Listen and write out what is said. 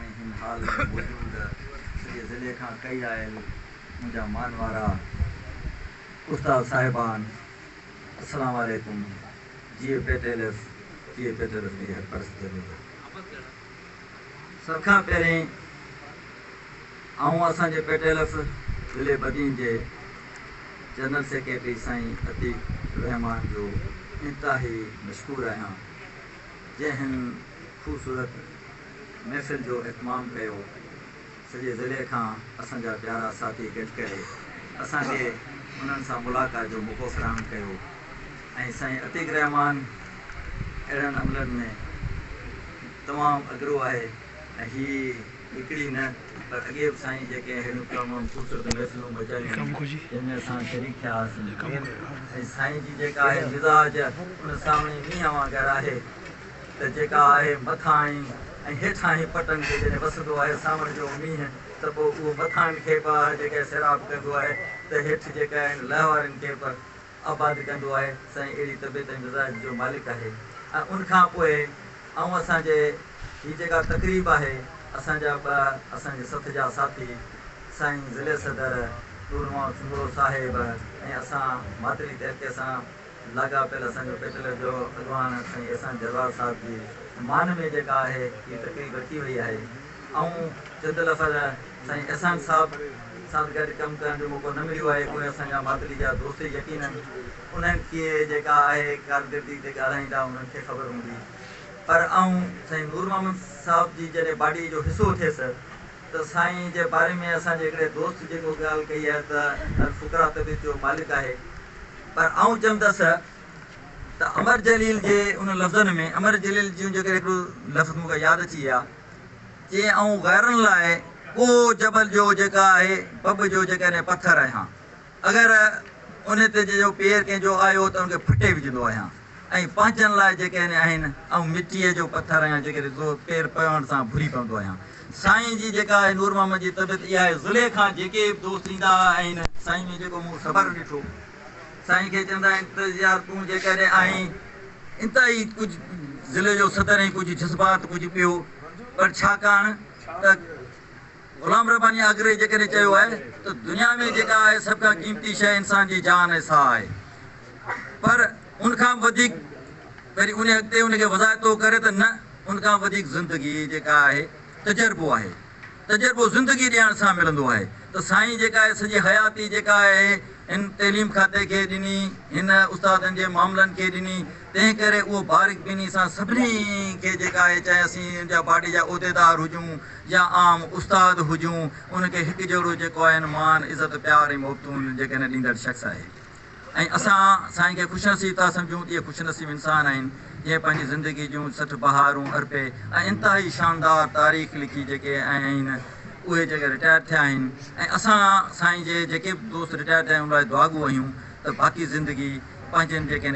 ۽ هن حال ۾ موجود سڄي ضلعي کان ڪئي آيل منهنجا مان وارا استاد صاحبان السلام عليڪم جيئي پيٽيلف جيئي پيٽيلف جي هر پرست ضرور سڀ کان پهرين آئون اسان جي پيٽيلف ضلعي بدين جي جنرل سيڪريٽري سائين عتيق الرحمان جو انتهائي مشڪور آهيان جنهن هن خوبصورت محفل جو اهتمام ڪيو، سڄي ضلعي کان اسان جا پيارا ساٿي گڏ ڪري اسان کي انهن سان ملاقات جو موقعو فراهم ڪيو ۽ سائين عتيق الرحمان اهڙن عملن ۾ تمام اڳرو آهي. ۽ هي هڪڙي نه پر اڳي به سائين جيڪي اهڙيون تمام خوبصورت محفلون مچايون آهن جن ۾ اسان شريڪ ٿيا هئاسين ۽ سائين جي جيڪا آهي مزاج ان سامهين مينهن وانگر آهي ته جيڪا آهي مٿانهين ۽ هيٺانهين پٽن تي جڏهن وسندو آهي سانوڻ جو مينهن ته پوء اهو مٿانهين کي به آهي جيڪا سيراب ڪندو آهي ته هيٺ جيڪا آهن لهوارين کي به آباد ڪندو آهي سائين اهڙي طبيعت ۽ مزاج جو مالڪ آهي ۽ ان کان پوء آئون اسان جي هي جيڪا تقريب آهي اسان جا ٻه اسان جي سٿ جا ساٿي سائين ضلعي صدر نور محمد سومرو صاحب ۽ اسان ماتري تحلڪي سان لاڳاپيل اسان جو پيٽلر جو اڳواڻ سائين احسان جرار صاحب جي مان ۾ جيڪا آهي هي تقريب رکي وئي آهي آئون جندل اسان جا سائين احسان صاحب سان گڏ ڪم ڪرڻ جو موقعو نه مليو آهي پوء اسان جا ماتلي جا دوست يقينن انهن کي جيڪا آهي ڪارڪردگي تي ڳالهائيندا انهن کي خبر هوندي پر آئون سائين نور محمد صاحب جي جڏهن باڊي جو حصو ٿيس ته سائين جي باري ۾ اسان جي هڪڙي دوست جيڪو ڳالهه ڪئي آهي ته الفقراء طبيعت جو مالڪ آهي پر آئون چوندس ته امر جليل جي ان لفظن ۾ امر جليل جون جيڪڏهن هڪڙو لفظ مون کي ياد اچي ويا چي آئون غيرن لاء ڪو جبل جو جيڪا آهي بب جو جيڪڏهن پٿر آهيان اگر ان تي جي جو پير ڪنهن جو آيو ته ان کي ڦٽي وجهندو آهيان ۽ پنهنجن لاء جيڪڏهن آهن آئون مٽيء جو پٿر آهيان جيڪڏهن زور پير پوڻ سان ڀري پوندو آهيان سائين جي جيڪا آهي نور محمد جي طبيعت اها آهي زليخا جيڪي به دوست ايندا آهن سائين ۾ جيڪو مون صبر ڏٺو سائين کي چوندا آهن ته يار تون جيڪڏهن آهين انتهائي ڪجهه ضلعي جو صدر ۽ ڪجهه جذبات ڪجهه ٻيو پر ڇاڪاڻ ته غلام رباني آگري جيڪڏهن چيو آهي ته دنيا ۾ جيڪا آهي سڀ کان قيمتي شيء انسان جي جان ۽ ساهه آهي پر ان کان به وڌيڪ وري ان اڳتي ان کي وضاحتو ڪري ته نه ان کان به وڌيڪ زندگي جيڪا آهي تجربو آهي. تجربو زندگي ڏيڻ سان ملندو آهي ته سائين جيڪا اهي سڄي حياتي جيڪا اهي هن تعليم کاتي کي ڏني هن استادن جي معاملن کي ڏني تنهن ڪري اهو بارڪ بيني سان سڀني کي جيڪا اهي چاهي اسين ان جا پارٽي جا عهديدار هجون يا عام استاد هجون ان کي هڪ جهڙو جيڪو آهي هن مان عزت پيار ۽ محبتون جيڪا هن ڏيندڙ شخص آهي ۽ اسان سائين کي خوش نصيب ٿا سمجهون ته اهي خوش نصيب انسان آهن جنهن پنهنجي زندگي جون سٺ بهارون ارپي ۽ انتهائي شاندار تاريخ لکي جيڪي آهن اهي جيڪي رٽائر ٿيا آهن ۽ اسان سائين جي جيڪي به دوست رٽائر ٿيا آهن ان لاء دعاگو آهيون ته باقي زندگي پنهنجن جيڪي